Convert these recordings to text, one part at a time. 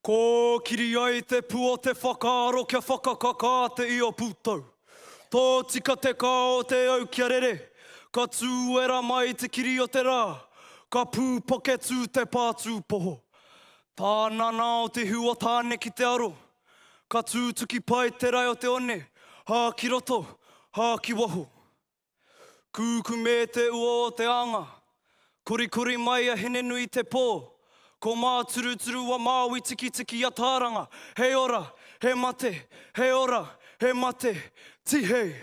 Kōkiri ai te pu o te whakaaro kia whakakakā te io pūtau. Tōtika te kao o te au kia rere, ka tūera mai te kiri o te rā, ka pūpaketū te pā tūpoho. Tā nana o te hiu o Tāne ki te aro, ka tūtuki pai te rae o te one, hā ki roto, hā ki waho. Kūkumē te ua o te anga, Korikori mai a Hinenui te pō, Ko Māturuturu wa Māui Tikitiki a Tāranga, He ora, he mate, he ora, he mate, Tihei,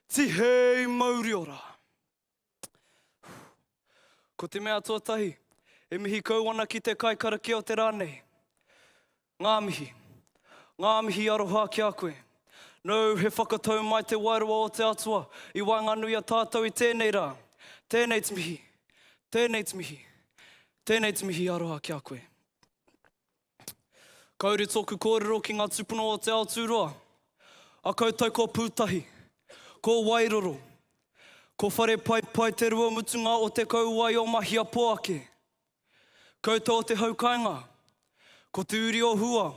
tihei mauri ora. Ko te mea tuatahi, e mihi kau ana ki te kaikarakia o te rā nei. Ngā mihi. Ngā mihi aroha ki a koe. Nō, he whakatau mai te wairua o te Atua i waenganui i a tātou i tēnei rā. Tēnei te mihi. Tēnei te mihi. Tēnei te mihi aroha ki a koe. Kauri tōku kōrero ki ngā tūpuna o Te Aotūroa. A koutou ko Pūtahi. Ko Wairoro. Ko Wharepaipai te rua mutunga o te kauae o Mahiapoake. Koutou o te hau kainga, ko Te Uri o Hua,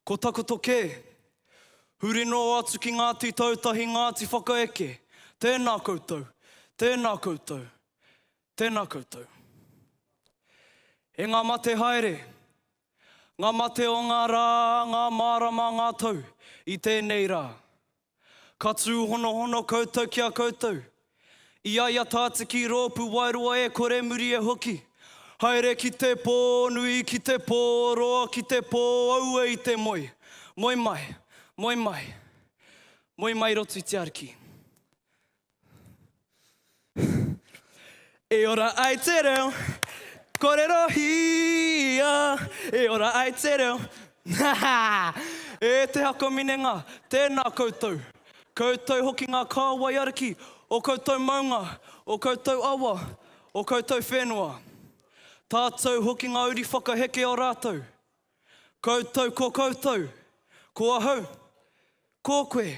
ko Takoto kē. Huri noa atu ki Ngāti Tautahi, Ngāti Whakaeke, tēnā koutou, tēnā koutou, tēnā koutou. E ngā mate haere, ngā mate o ngā rā, ngā mārama, ngā tau i tēnei rā. Ka tūhonohono koutou ki a koutou. I a ia tātiki rōpū wairua e kore muri e hoki. Haere ki te pō nui, ki te pō roa, ki te pō aue i te moe. Moe mai, moe mai. Moe mai i roto i te Ariki. E ora ai te reo, korero hia, e ora ai te reo. e te haka minenga, tēnā koutou. Koutou hoki ngā kāwai ariki, o koutou maunga, o koutou awa, o koutou whenua. Tātou hoki ngā uri whakaheke o rātou. Koutou ko koutou, ko ahau, ko koe.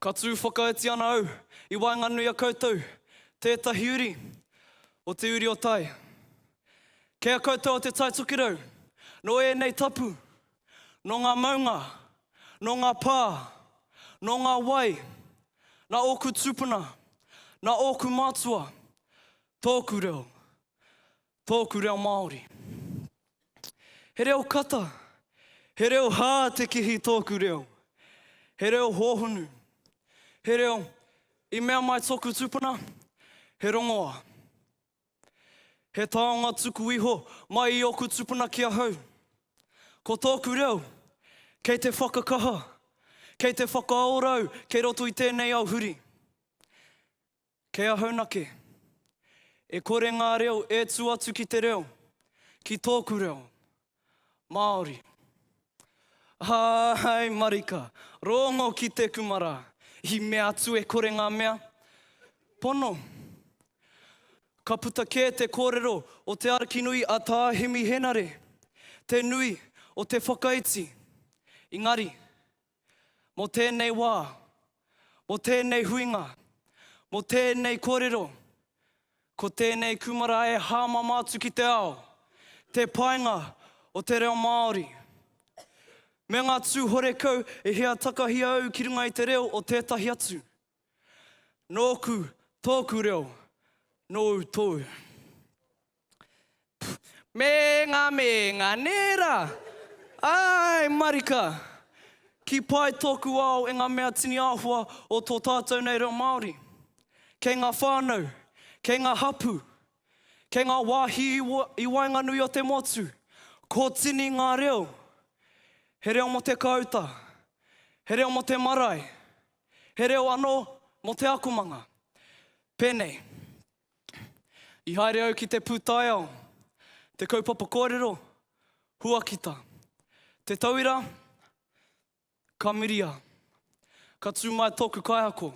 Ka tū whakaiti ana au i waenganui a koutou tētahi uri o te uri o tai. Kei a koutou o Te Tai Tokerau, nō ēnei tapu, nō ngā maunga, nō ngā pā, nō ngā wai, nā ōku tūpuna, nā ōku mātua, tōku reo. Tōku reo Māori. He reo kata, he reo hā te kihi tōku reo. He reo hōhonu, he reo i mea mai tōku tūpuna, he rongoā. He taonga tuku iho mai i ōku tūpuna ki ahau. Ko tōku reo, kei te whakakaha, kei te whakaorau kei roto i tēnei au huri. Kei ahau nake. E kore ngā reo e tū atu ki te reo, ki tōku reo, Māori. Āai marika, rōngo ki te kumara, i mea atu e kore ngā mea, pono. Ka puta kē te kōrero o te arikinui a Tā Hemi Henare, te nui o te whakaiti. Engari, Mō tēnei wā, mō tēnei huinga, mō tēnei kōrero, ko tēnei kūmara e hāmama atu ki te ao, te painga o te reo Māori. Me ngā tū horekau e hia takahia au ki runga i te reo o tētahi atu. Nōku, tōku reo, nōu, tōu. Me nga me nga nera! Ae marika! Ki pai toku ao e nga mea tini ahua o to tatou nei reo Maori. Kei nga whanau, kei nga hapu, kei nga wahi i waenganui o te motu, ko tini nga reo. He reo mo te kauta, he reo mo te marae, he reo ano mo te akomanga. Penei. I haere au ki te pūtaiao, te kaupapa kōrero, huakita. Te tauira, ka miria. Ka tū mai tōku kaiako.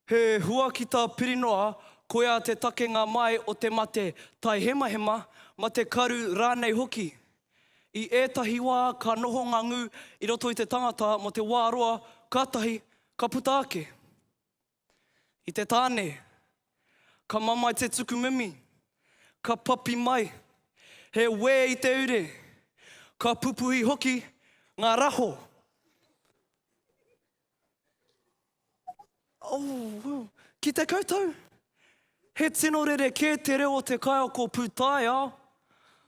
He huakita pirinoa, koia te takenga mai o te mate taihemahema, mate karu rānei hoki. I ētahi wā ka noho ngā ngū i roto i te tangata mō te wā roa kātahi ka puta ake. I te tāne, ka mamae te tuku mimi, ka papi mai he wē i te ure, ka pupuhi hoki ngā raho. Oh, ki te koutou, he tino rerekē te reo o te kaiako pūtaiao.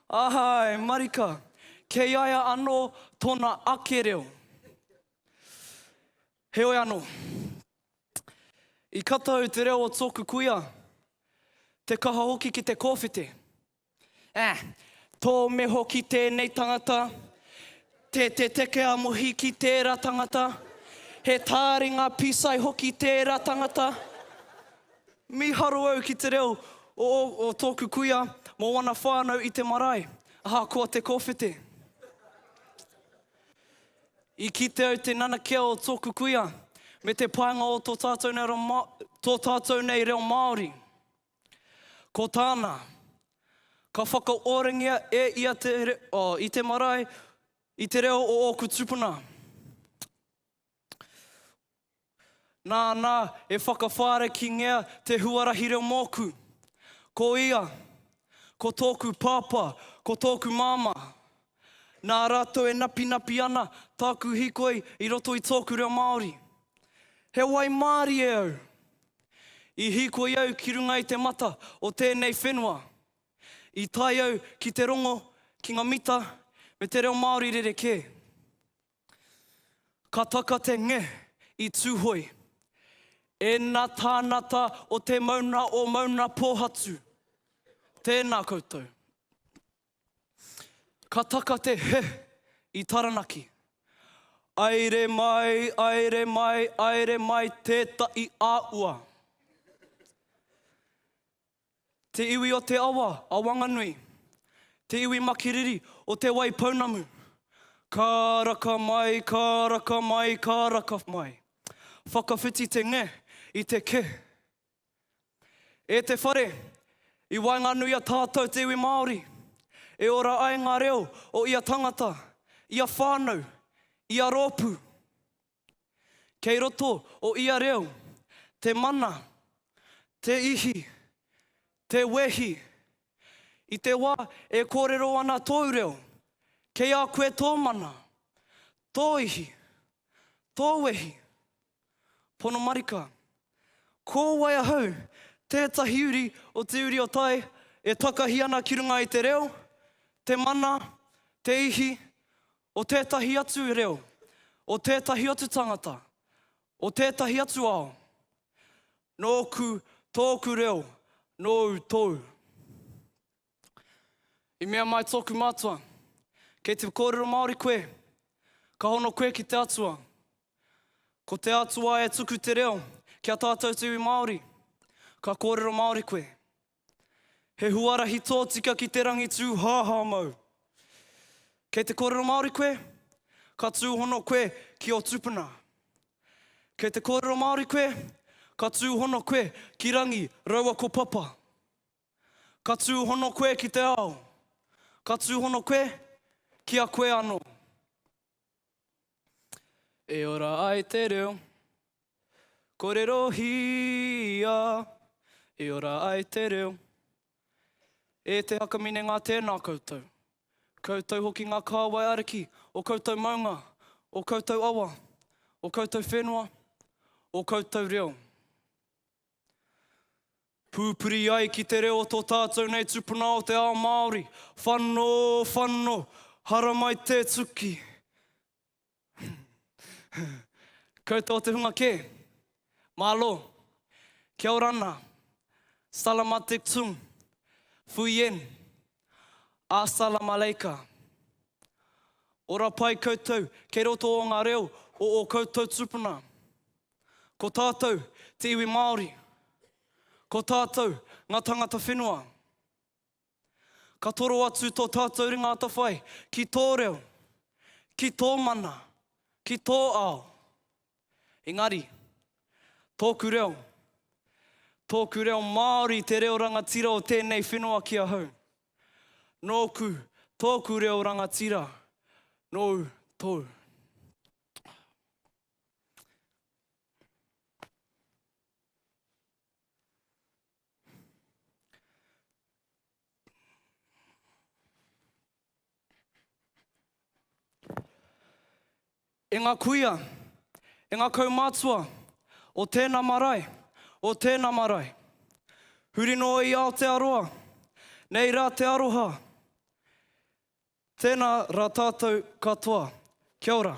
Āe, marika, kei a ia anō tōna ake reo. Heoi anō, i kata au te reo o tōku kuia, te kaha hoki ki te kōwhete. Ah! Tō meho ki tēnei tangata, te te teke a Mohi ki tēra tangata, he tāringa pisai hoki tēra tangata. Miharo au ki te reo o o tōku kuia mo wana whānau i te marae, ahakoa te kōwhete. I kite au te nanakia o tōku kuia me te painga o tō tātou nei reo Māori. Ko tāna, ka whakaorangia e ia te, oh, i te marae, i te reo o ōku tupuna. Nāna e whakawhāre ki ngea te huarahi reo mōku. Ko ia, ko tōku pāpā, ko tōku māmā. Nā rātou e napinapi ana tāku hikoi i roto i tōku reo Māori. He wai mārie au. I hīkoi au ki runga i te mata o tēnei whenua. I tae au ki te rongo ki nga mita me te reo Māori rerekē. Ka taka te nge i Tūhoe. Ēna tānata o te mauna o Maunapōhatu. Tēna koutou. Ka taka te he i Taranaki. Aere mai, aere mai, aere mai tetahi a ua. Te iwi o te awa a Wanganui. Te iwi makiriri o Te Wai Pounamu. Ka raka mai, ka raka mai, ka raka mai. Whakawhiti te nge i te ke. E te whare, i waenganui i a tātou te iwi Māori, e ora ai ngā reo o ia tangata, ia whānau, ia rōpū. Kei roto o ia reo, te mana, te ihi, te wehi. I te wā e kōrero ana tōu reo, kei a koe tō mana, tō ihi, tō wehi. Pono marika. Ko wai ahau? Tētahi uri o te uri o tai e takahi ana ki runga i te reo, te mana, te ihi, o tētahi atu reo, o tētahi atu tangata, o tētahi atu ao. Nōku, tōku reo, nōu, tōu. I mea mai tōku mātua, Kei te kōrero Māori koe, ka hono koe ki te Atua. Ko te Atua e tuku te reo ki a tātou te iwi Māori, ka kōrero Māori koe. He huarahi tōtika ki te rangi tū hāhā mau. Kei te kōrero Māori koe, ka tūhono koe ki ō tupuna. Kei te kōrero Māori koe, ka tūhono koe ki rangi raua ko papa. Ka tūhono koe ki te ao, ka tūhono koe ki a koe anō. E ora ai te reo, korerohia, e ora ai te reo. E te hakamine ngā tēnā koutou, koutou hoki ngā kāwai ariki o koutou maunga, o koutou awa, o koutou whenua, o koutou reo. Pūpuri ai ki te reo tō tātou nei tupuna o te ao Māori. Whano, whano, haramai te tuki. Koutou o te hunga kē. Malo. Kia ora ana. Salamatiktum. Fuyen. Asalamaleika. Ora pai koutou, kei roto o ngā reo o o koutou tupuna. Ko tātou, te iwi Māori. Ko tātou, ngā tangata whenua. Ka toro atu tō tātou ringa atawhai ki tō reo, ki tō mana, ki tō ao. Engari, tōku reo, tōku reo Māori te reo rangatira o tēnei whenua ki ahau. Nōku, tōku reo rangatira, nōu, tōu. E ngā kuia, e ngā kaumātua o tēnā marae, o tēnā marae. Huri noa i Aotearoa, nei rā te aroha. Tēnā rā tātou katoa. Kia ora.